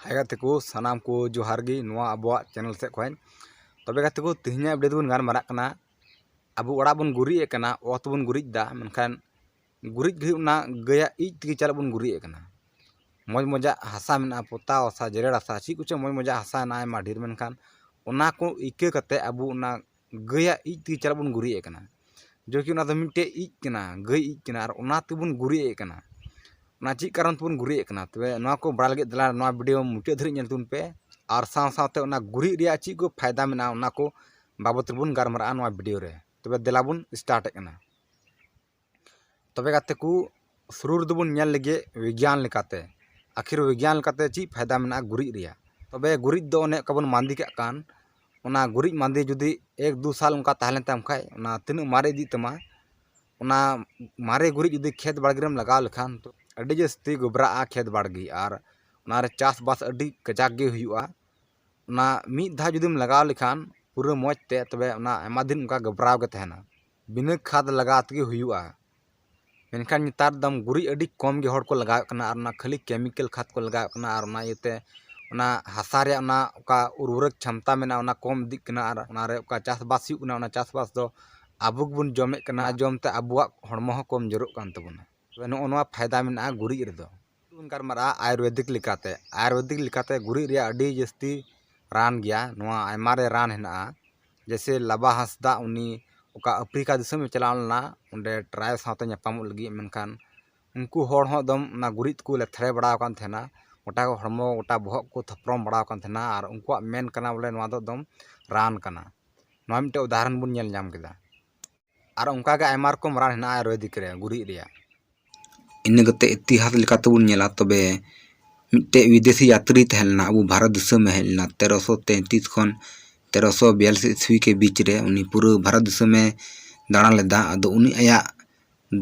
ᱦᱟᱭ ᱜᱟᱛᱮ ᱠᱚ ᱥᱟᱱᱟᱢ ᱠᱚ ᱡᱚᱦᱟᱨ ᱜᱮ ᱱᱚᱣᱟ ᱟᱵᱚᱣᱟᱜ ᱪᱮᱱᱮᱞ ᱥᱮᱫ ᱠᱷᱚᱱ ᱛᱚᱵᱮ ᱜᱟᱛᱮ ᱠᱚ ᱛᱮᱦᱮᱧᱟᱜ ᱵᱷᱤᱰᱤᱭᱳ ᱫᱚᱵᱚᱱ ᱜᱟᱞᱢᱟᱨᱟᱜ ᱠᱟᱱᱟ ᱟᱵᱚ ᱚᱲᱟᱜ ᱵᱚᱱ ᱜᱩᱨᱤᱡ ᱮᱫ ᱠᱟᱱᱟ ᱚᱛ ᱵᱚᱱ ᱜᱩᱨᱤᱡ ᱮᱫᱟ ᱢᱮᱱᱠᱷᱟᱱ ᱜᱩᱨᱤᱡ ᱜᱷᱟᱹᱲᱤᱡ ᱚᱱᱟ ᱜᱟᱹᱭᱟᱜ ᱤᱡ ᱛᱮᱜᱮ ᱪᱟᱞᱟᱜ ᱵᱚᱱ ᱜᱩᱨᱤᱡ ᱮᱫ ᱠᱟᱱᱟ ᱢᱚᱡᱽ ᱢᱚᱡᱟᱜ ᱦᱟᱥᱟ ᱢᱮᱱᱟᱜᱼᱟ ᱯᱚᱛᱟᱣ ᱦᱟᱥᱟ ᱡᱮᱨᱮᱲ ᱦᱟᱥᱟ ᱪᱮᱫ ᱠᱚᱪᱚᱝ ᱢᱚᱡᱽ ᱢᱚᱡᱟᱜ ᱦᱟᱥᱟ ᱢᱮᱱᱟᱜᱼᱟ ᱟᱭᱢᱟ ᱰᱷᱮᱨ ᱢᱮᱱᱠᱷᱟᱱ ᱚᱱᱟ ᱠᱚ ᱤᱠᱟᱹ ᱠᱟᱛᱮᱫ ᱟᱵᱚ ᱚᱱᱟ ᱜᱟᱹᱭᱟᱜ ᱤᱡ ᱛᱮᱜᱮ ᱪᱟᱨᱟᱜ ᱵᱚᱱ ᱜᱩᱨᱤᱡ ᱟᱜ ᱠᱟᱱᱟ ᱡᱮᱭ ᱠᱤ ᱚᱱᱟ ᱫᱚ ᱢᱤᱫᱴᱮᱡ ᱤᱡ ᱠᱟᱱᱟ ᱜᱟᱹᱭ ᱤᱡ ᱠᱟᱱᱟ ᱟᱨ ᱚᱱᱟ ᱛᱮᱵᱚᱱ ᱜᱩᱨᱤᱡ ᱮᱜ ᱠᱟᱱᱟ ᱚᱱᱟ ᱪᱮᱫ ᱠᱟᱨᱚᱱ ᱛᱮᱵᱚᱱ ᱜᱩᱨᱤᱡ ᱮᱜ ᱠᱟᱱᱟ ᱛᱚᱵᱮ ᱱᱚᱣᱟ ᱠᱚ ᱵᱟᱲᱟᱭ ᱞᱟᱹᱜᱤᱫ ᱫᱮᱞᱟ ᱱᱚᱣᱟ ᱵᱷᱤᱰᱭᱳ ᱢᱩᱪᱟᱹᱫ ᱫᱷᱟᱹᱵᱤᱡ ᱧᱮᱞ ᱛᱟᱵᱚᱱ ᱯᱮ ᱟᱨ ᱥᱟᱶ ᱥᱟᱶᱛᱮ ᱚᱱᱟ ᱜᱩᱨᱤᱡ ᱨᱮᱭᱟᱜ ᱪᱮᱫ ᱠᱚ ᱯᱷᱟᱭᱫᱟ ᱢᱮᱱᱟᱜᱼᱟ ᱚᱱᱟ ᱠᱚ ᱵᱟᱵᱚᱫ ᱛᱮᱵᱚᱱ ᱜᱟᱞᱢᱟᱨᱟᱜᱼᱟ ᱱᱚᱣᱟ ᱵᱷᱤᱰᱭᱳ ᱨᱮ ᱛᱚᱵᱮ ᱫᱮᱞᱟ ᱵᱚᱱ ᱮᱥᱴᱟᱨᱴ ᱮᱜ ᱠᱟᱱᱟ ᱛᱚᱵᱮ ᱜᱟᱛᱮ ᱠᱚ ᱥᱩᱨᱩ ᱨᱮᱫᱚ ᱵᱚᱱ ᱧᱮᱞ ᱞᱮᱜᱮ ᱵᱤᱜᱽᱜᱟᱱ ᱞᱮᱠᱟᱛᱮ ᱟᱹᱠᱷᱤᱨ ᱵᱤᱜᱽᱜᱟᱱ ᱞᱮᱠᱟᱛᱮ ᱪᱮᱫ ᱯᱷᱟᱭᱫᱟ ᱢᱮᱱᱟᱜᱼᱟ ᱜᱩᱨᱤᱡ ᱨᱮᱭᱟᱜ ᱛᱚᱵᱮ ᱜᱩᱨᱤᱡ ᱫᱚ ᱚᱱᱮ ᱚᱱᱠᱟ ᱵᱚᱱ ᱵᱟᱸᱫᱮ ᱠᱟᱜ ᱠᱟᱱ ᱚᱱᱟ ᱜᱩᱨᱤᱡ ᱵᱟᱸᱫᱮ ᱡᱩᱫᱤ ᱮᱠ ᱫᱩ ᱥᱟᱞ ᱚᱱᱠᱟ ᱛᱟᱦᱮᱸ ᱞᱮᱱ ᱛᱟᱢ ᱠᱷᱟᱡ ᱚᱱᱟ ᱛᱤᱱᱟᱹᱜ ᱢᱟᱨᱮ ᱤᱫᱤᱜ ᱛᱟᱢᱟ ᱚᱱᱟ ᱢᱟᱨᱮ ᱜᱩᱨᱤᱡ ᱡᱩᱫᱤ ᱠᱷᱮᱛ ᱵᱟᱲᱜᱮ ᱨᱮᱢ ᱞᱟᱜᱟᱣ ᱞᱮᱠᱷᱟᱱ ᱟᱹᱰᱤ ᱡᱟᱹᱥᱛᱤ ᱜᱚᱵᱽᱨᱟᱜᱼᱟ ᱠᱷᱮᱛ ᱵᱟᱲᱜᱮ ᱟᱨ ᱚᱱᱟᱨᱮ ᱪᱟᱥᱼᱵᱟᱥ ᱟᱹᱰᱤ ᱠᱟᱡᱟᱠ ᱜᱮ ᱦᱩᱭᱩᱜᱼᱟ ᱚᱱᱟ ᱢᱤᱫ ᱫᱷᱟᱣ ᱡᱩᱫᱤᱢ ᱞᱟᱜᱟᱣ ᱞᱮᱠᱷᱟᱱ ᱯᱩᱨᱟᱹ ᱢᱚᱡᱽ ᱛᱮ ᱛᱚᱵᱮ ᱚᱱᱟ ᱟᱭᱢᱟ ᱫᱤᱱ ᱚᱱᱠᱟ ᱜᱚᱵᱽᱨᱟᱣ ᱜᱮ ᱛᱟᱦᱮᱱᱟ ᱵᱤᱱᱟᱹ ᱠᱷᱟᱫᱽ ᱞᱟᱜᱟᱣ ᱛᱮᱜᱮ ᱦᱩᱭᱩᱜᱼᱟ ᱢᱮᱱᱠᱷᱟᱱ ᱱᱮᱛᱟᱨ ᱫᱚ ᱜᱩᱨᱤᱡ ᱟᱹᱰᱤ ᱠᱚᱢ ᱜᱮ ᱦᱚᱲ ᱠᱚ ᱞᱟᱜᱟᱣᱮᱫ ᱠᱟᱱᱟ ᱟᱨ ᱚᱱᱟ ᱠᱷᱟᱹᱞᱤ ᱠᱮᱢᱤᱠᱮᱞ ᱠᱷᱟᱫᱽ ᱠᱚ ᱞᱟᱜᱟᱣᱮᱫ ᱠᱟᱱᱟ ᱟᱨ ᱚᱱᱟ ᱤᱭᱟᱹᱛᱮ ᱚᱱᱟ ᱦᱟᱥᱟ ᱨᱮᱭᱟᱜ ᱚᱱᱟ ᱚᱠᱟ ᱩᱨᱵᱚᱨᱚᱠ ᱪᱷᱚᱢᱛᱟ ᱢᱮᱱᱟᱜᱼᱟ ᱚᱱᱟ ᱠᱚᱢ ᱤᱫᱤᱜ ᱠᱟᱱᱟ ᱟᱨ ᱚᱱᱟ ᱨᱮ ᱚᱠᱟ ᱪᱟᱥᱼᱵᱟᱥ ᱦᱩᱭᱩᱜ ᱠᱟᱱᱟ ᱚᱱᱟ ᱪᱟᱥᱼᱵᱟᱥ ᱫᱚ ᱟᱵᱚ ᱜᱮᱵᱚᱱ ᱡᱚᱢᱮᱫ ᱠᱟᱱᱟ ᱚᱱᱟ ᱡᱚᱢᱛᱮ ᱟᱵᱚᱣᱟᱜ ᱦᱚᱲᱢᱚ ᱦᱚᱸ ᱠᱚᱢ ᱡᱳᱨᱚᱜ ᱠᱟᱱ ᱛᱟᱵᱚᱱᱟ ᱛᱚᱵᱮ ᱱᱚᱜᱼᱚ ᱱᱚᱣᱟ ᱯᱷᱟᱭᱫᱟ ᱢᱮᱱᱟᱜᱼᱟ ᱜᱩᱨᱤᱡ ᱨᱮᱫᱚ ᱵᱚᱱ ᱜᱟᱞᱢᱟᱨᱟᱜᱼᱟ ᱟᱭᱩᱨᱵᱮᱫᱤᱠ ᱞᱮᱠᱟᱛᱮ ᱟᱭᱩᱨᱵᱮᱫᱤᱠ ᱞᱮᱠᱟᱛᱮ ᱜᱩᱨᱤᱡ ᱨᱮᱭᱟᱜ ᱟᱹᱰᱤ ᱡᱟᱹᱥᱛᱤ ᱨᱟᱱ ᱜᱮᱭᱟ ᱱᱚᱣᱟ ᱟᱭᱢᱟ ᱨᱮ ᱨᱟᱱ ᱦᱮᱱᱟᱜᱼᱟ ᱡᱮᱭᱥᱮ ᱞᱟᱵᱟ ᱦᱟᱸᱥᱫᱟ ᱩᱱᱤ ᱚᱠᱟ ᱟᱯᱷᱨᱤᱠᱟ ᱫᱤᱥᱚᱢᱮ ᱪᱟᱞᱟᱣ ᱞᱮᱱᱟ ᱚᱸᱰᱮ ᱴᱨᱟᱭᱤᱵᱽ ᱥᱟᱶᱛᱮ ᱧᱟᱯᱟᱢᱚᱜ ᱞᱟᱹᱜᱤᱫ ᱢᱮᱱᱠᱷᱟᱱ ᱩᱱᱠᱩ ᱦᱚᱲ ᱦᱚᱸ ᱮᱠᱫᱚᱢ ᱚᱱᱟ ᱜᱩᱨᱤᱡ ᱛᱮᱠᱚ ᱞᱮᱛᱷᱲᱮ ᱵᱟᱲᱟᱣ ᱠᱟᱱ ᱛᱟᱦᱮᱱᱟ ᱜᱚᱴᱟ ᱦᱚᱲᱢᱚ ᱜᱚᱴᱟ ᱵᱚᱦᱚᱜ ᱠᱚ ᱛᱷᱚᱯᱨᱚᱢ ᱵᱟᱲᱟᱣ ᱠᱟᱱ ᱛᱟᱦᱮᱱᱟ ᱟᱨ ᱩᱱᱠᱩᱣᱟᱜ ᱢᱮᱱ ᱠᱟᱱᱟ ᱵᱚᱞᱮ ᱱᱚᱣᱟ ᱫᱚ ᱮᱠᱫᱚᱢ ᱨᱟᱱ ᱠᱟᱱᱟ ᱱᱚᱣᱟ ᱢᱤᱫᱴᱮᱡ ᱩᱫᱟᱦᱚᱨᱚᱱ ᱵᱚᱱ ᱧᱮᱞ ᱧᱟᱢ ᱠᱮᱫᱟ ᱟᱨ ᱚᱱᱠᱟᱜᱮ ᱟᱭᱢᱟ ᱨᱚᱠᱚᱢ ᱨᱟᱱ ᱦᱮᱱᱟᱜᱼᱟ ᱟᱭᱩᱨᱵᱮᱫᱤᱠ ᱨᱮ ᱜᱩᱨᱤᱡ ᱨᱮᱭᱟᱜ ᱤᱱᱟᱹ ᱠᱟᱛᱮᱫ ᱤᱛᱤᱦᱟᱥ ᱞᱮᱠᱟᱛᱮᱵᱚᱱ ᱧᱮᱞᱟ ᱛᱚᱵᱮ ᱢᱤᱫᱴᱮᱡ ᱵᱤᱫᱮᱥᱤ ᱡᱟᱛᱨᱤ ᱛᱟᱦᱮᱸ ᱞᱮᱱᱟ ᱟᱵᱚ ᱵᱷᱟᱨᱚᱛ ᱫᱤᱥᱚᱢᱮ ᱦᱮᱡ ᱞᱮᱱᱟ ᱛᱮᱨᱚᱥᱚ ᱛᱮᱛᱨᱤᱥ ᱠᱷᱚᱱ ᱛᱮᱨᱚᱥᱚ ᱵᱤᱭᱟᱞᱞᱤᱥ ᱤᱥᱣᱤ ᱠᱮ ᱵᱤᱪ ᱨᱮ ᱩᱱᱤ ᱯᱩᱨᱟᱹ ᱵᱷᱟᱨᱚᱛ ᱫᱤᱥᱚᱢᱮ ᱫᱟᱬᱟ ᱞᱮᱫᱟ ᱟᱫᱚ ᱩᱱᱤ ᱟᱭᱟᱜ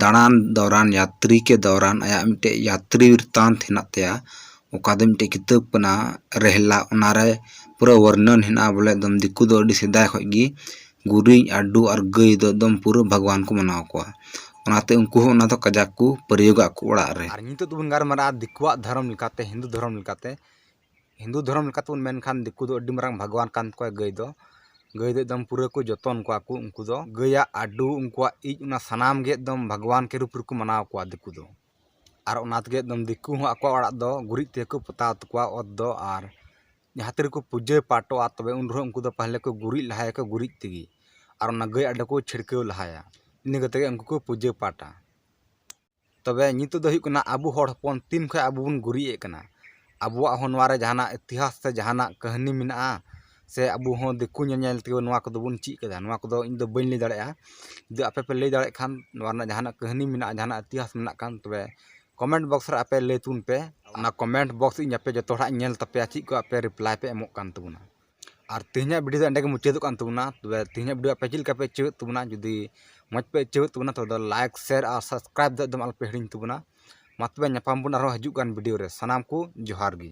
ᱫᱟᱬᱟᱱ ᱫᱚᱣᱨᱟᱱ ᱡᱟᱛᱨᱤ ᱠᱮ ᱫᱚᱣᱨᱟᱱ ᱟᱭᱟᱜ ᱢᱤᱫᱴᱮᱡ ᱡᱟᱛᱨᱤ ᱵᱨᱤᱛᱟᱱᱛ ᱦᱮᱱᱟᱜ ᱛᱟᱭᱟ ᱚᱠᱟ ᱫᱚ ᱢᱤᱫᱴᱮᱡ ᱠᱤᱛᱟᱹᱵ ᱠᱟᱱᱟ ᱨᱮᱦᱞᱟ ᱚᱱᱟᱨᱮ ᱯᱩᱨᱟᱹ ᱵᱚᱨᱱᱚᱱ ᱦᱮᱱᱟᱜᱼᱟ ᱵᱚᱞᱮ ᱮᱠᱫᱚᱢ ᱫᱤᱠᱩ ᱫᱚ ᱟᱹᱰᱤ ᱥᱮᱫᱟᱭ ᱠᱷᱚᱡ ᱜᱮ ᱜᱩᱨᱤᱡ ᱟᱹᱰᱩ ᱟᱨ ᱜᱟᱹᱭ ᱫᱚ ᱮᱠᱫᱚᱢ ᱯᱩᱨᱟᱹ ᱵᱷᱟᱜᱽᱣᱟᱱ ᱠᱚ ᱢᱟᱱᱟᱣ ᱠᱚᱣᱟ ᱚᱱᱟᱛᱮ ᱩᱱᱠᱩ ᱦᱚᱸ ᱚᱱᱟ ᱫᱚ ᱠᱟᱡᱟᱠ ᱠᱚ ᱯᱨᱚᱭᱳᱜᱽ ᱟᱠᱚ ᱚᱲᱟᱜ ᱨᱮ᱾ ᱟᱨ ᱱᱤᱛᱚᱜ ᱫᱚᱵᱚᱱ ᱜᱟᱞᱢᱟᱨᱟᱜᱼᱟ ᱫᱤᱠᱩᱣᱟᱜ ᱫᱷᱚᱨᱚᱢ ᱞᱮᱠᱟᱛᱮ ᱦᱤᱱᱫᱩ ᱫᱷᱚᱨᱚᱢ ᱞᱮᱠᱟᱛᱮ ᱦᱤᱱᱫᱩ ᱫᱷᱚᱨᱚᱢ ᱞᱮᱠᱟᱛᱮ ᱵᱚᱱ ᱢᱮᱱ ᱠᱷᱟᱱ ᱫᱤᱠᱩ ᱫᱚ ᱟᱹᱰᱤ ᱢᱟᱨᱟᱝ ᱵᱷᱟᱜᱽᱣᱟᱱ ᱠᱟᱱ ᱛᱟᱠᱚᱣᱟ ᱜᱟᱹᱭ ᱫᱚ ᱜᱟᱹᱭ ᱫᱚ ᱮᱠᱫᱚᱢ ᱯᱩᱨᱟᱹ ᱠᱚ ᱡᱚᱛᱚᱱ ᱠᱚᱣᱟ ᱠᱚ ᱩᱱᱠᱩ ᱫᱚ ᱜᱟᱹᱭᱟᱜ ᱟᱹᱰᱩ ᱩᱱᱠᱩᱣᱟᱜ ᱤᱡ ᱚᱱᱟ ᱥᱟᱱᱟᱢ ᱜᱮ ᱮᱠᱫᱚᱢ ᱵᱷᱟᱜᱽᱣᱟᱱ ᱠᱮ ᱨᱩᱯ ᱨᱮᱠᱚ ᱢᱟᱱᱟᱣ ᱠᱚᱣᱟ ᱫᱤᱠᱩ ᱫᱚ ᱟᱨ ᱚᱱᱟ ᱛᱮᱜᱮ ᱮᱠᱫᱚᱢ ᱫᱤᱠᱩ ᱦᱚᱸ ᱟᱠᱚᱣᱟᱜ ᱚᱲᱟᱜ ᱫᱚ ᱜᱩᱨᱤᱡ ᱛᱮᱜᱮ ᱠᱚ ᱯᱚᱛᱟᱣ ᱛᱟᱠᱚᱣᱟ ᱚᱛ ᱫᱚ ᱟᱨ ᱡᱟᱦᱟᱸ ᱛᱤ ᱨᱮᱠᱚ ᱯᱩᱡᱟᱹ ᱯᱟᱴᱚᱜᱼᱟ ᱛᱚᱵᱮ ᱩᱱ ᱨᱮᱦᱚᱸ ᱩᱱᱠᱩ ᱫᱚ ᱯᱟᱦᱞᱮ ᱠᱚ ᱜᱩᱨᱤᱡ ᱞᱟᱦᱟᱭᱟᱠᱚ ᱜᱩᱨᱤᱡ ᱛᱮᱜᱮ ᱟᱨ ᱚᱱᱟ ᱜᱟᱹᱭ ᱟᱜ ᱫᱚᱠᱚ ᱪᱷᱤᱲᱠᱟᱹᱣ ᱞᱟᱦᱟᱭᱟ ᱤᱱᱟᱹ ᱠᱟᱛᱮᱫ ᱜᱮ ᱩᱱᱠᱩ ᱠᱚ ᱯᱩᱡᱟᱹ ᱯᱟᱴᱟ ᱛᱚᱵᱮ ᱱᱤᱛᱚᱜ ᱫᱚ ᱦᱩᱭᱩᱜ ᱠᱟᱱᱟ ᱟᱵᱚ ᱦᱚᱲ ᱦᱚᱯᱚᱱ ᱛᱤᱱ ᱠᱷᱚᱱ ᱟᱵᱚ ᱵᱚᱱ ᱜᱩᱨᱤᱡ ᱮᱫ ᱠᱟᱱᱟ ᱟᱵᱚᱣᱟᱜ ᱦᱚᱸ ᱱᱚᱣᱟ ᱨᱮ ᱡᱟᱦᱟᱱᱟᱜ ᱤᱛᱤᱦᱟᱥ ᱥᱮ ᱡᱟᱦᱟᱱᱟᱜ ᱠᱟᱹᱦᱱᱤ ᱢᱮᱱᱟᱜᱼᱟ ᱥᱮ ᱟᱵᱚ ᱦᱚᱸ ᱫᱤᱠᱩ ᱧᱮᱞ ᱧᱮᱞ ᱛᱮᱜᱮ ᱱᱚᱣᱟ ᱠᱚᱫᱚ ᱵᱚᱱ ᱪᱮᱫ ᱠᱟᱫᱟ ᱱᱚᱣᱟ ᱠᱚᱫᱚ ᱤᱧ ᱫᱚ ᱵᱟᱹᱧ ᱞᱟᱹᱭ ᱫᱟᱲᱮᱭᱟᱜᱼᱟ ᱡᱩᱫᱤ ᱟᱯᱮ ᱯᱮ ᱞᱟᱹᱭ ᱫᱟᱲᱮᱭᱟᱜ ᱠᱷᱟᱱ ᱱᱚᱣᱟ ᱨᱮᱱᱟᱜ ᱡᱟᱦᱟᱱᱟᱜ ᱠᱟᱹᱦᱱᱤ ᱢᱮᱱᱟᱜᱼᱟ ᱡᱟᱦᱟᱱᱟᱜ ᱤᱛᱤᱦᱟᱥ ᱢᱮᱱᱟᱜ ᱠᱷᱟᱱ ᱛᱚᱵᱮ ᱠᱚᱢᱮᱱᱴ ᱵᱚᱠᱥ ᱨᱮ ᱟᱯᱮ ᱞᱟᱹᱭ ᱛᱟᱵᱚᱱ ᱯᱮ ᱚᱱᱟ ᱠᱚᱢᱮᱱᱴ ᱵᱚᱠᱥ ᱤᱧ ᱟᱯᱮ ᱡᱚᱛᱚ ᱦᱚᱲᱟᱜ ᱤᱧ ᱧᱮᱞ ᱛᱟᱯᱮᱭᱟ ᱪᱮᱫ ᱠᱚ ᱟᱯᱮ ᱨᱤᱯᱞᱟᱭ ᱯᱮ ᱮᱢᱚᱜ ᱠᱟᱱ ᱛᱟᱵᱚᱱᱟ ᱟᱨ ᱛᱮᱦᱮᱧᱟᱜ ᱵᱷᱤᱰᱤᱭᱳ ᱫᱚ ᱮᱸᱰᱮ ᱜᱮ ᱢᱩᱪᱟᱹᱫᱚᱜ ᱠᱟᱱ ᱛᱟᱵᱚᱱᱟ ᱛᱚᱵᱮ ᱛᱮᱦᱮᱧᱟᱜ ᱵᱷᱤᱰᱤᱭᱳ ᱟᱯᱮ ᱪᱮᱫ ᱞᱮᱠᱟ ᱯᱮ ᱟᱹᱭᱠᱟᱹᱣᱮᱫ ᱛᱟᱵᱚᱱᱟ ᱡᱩᱫᱤ ᱢᱚᱡᱽ ᱯᱮ ᱟᱹᱭᱠᱟᱹᱣᱮᱫ ᱛᱟᱵᱚᱱᱟ ᱛᱚᱵᱮ ᱞᱟᱭᱤᱠ ᱥᱮᱭᱟᱨ ᱟᱨ ᱥᱟᱵᱥᱠᱨᱟᱭᱤᱵᱽ ᱫᱚ ᱮᱠᱫᱚᱢ ᱟᱞᱚᱯᱮ ᱦᱤᱲᱤᱧ ᱛᱟᱵᱚᱱᱟ ᱢᱟ ᱛᱚᱵᱮ ᱧᱟᱯᱟᱢ ᱵᱚᱱ ᱟᱨᱦᱚᱸ ᱦᱤᱡᱩᱜ ᱠᱟᱱ ᱵᱷᱤᱰᱤᱭᱳ ᱨᱮ ᱥᱟᱱᱟᱢ ᱠᱚ ᱡᱚᱦᱟᱨ ᱜᱮ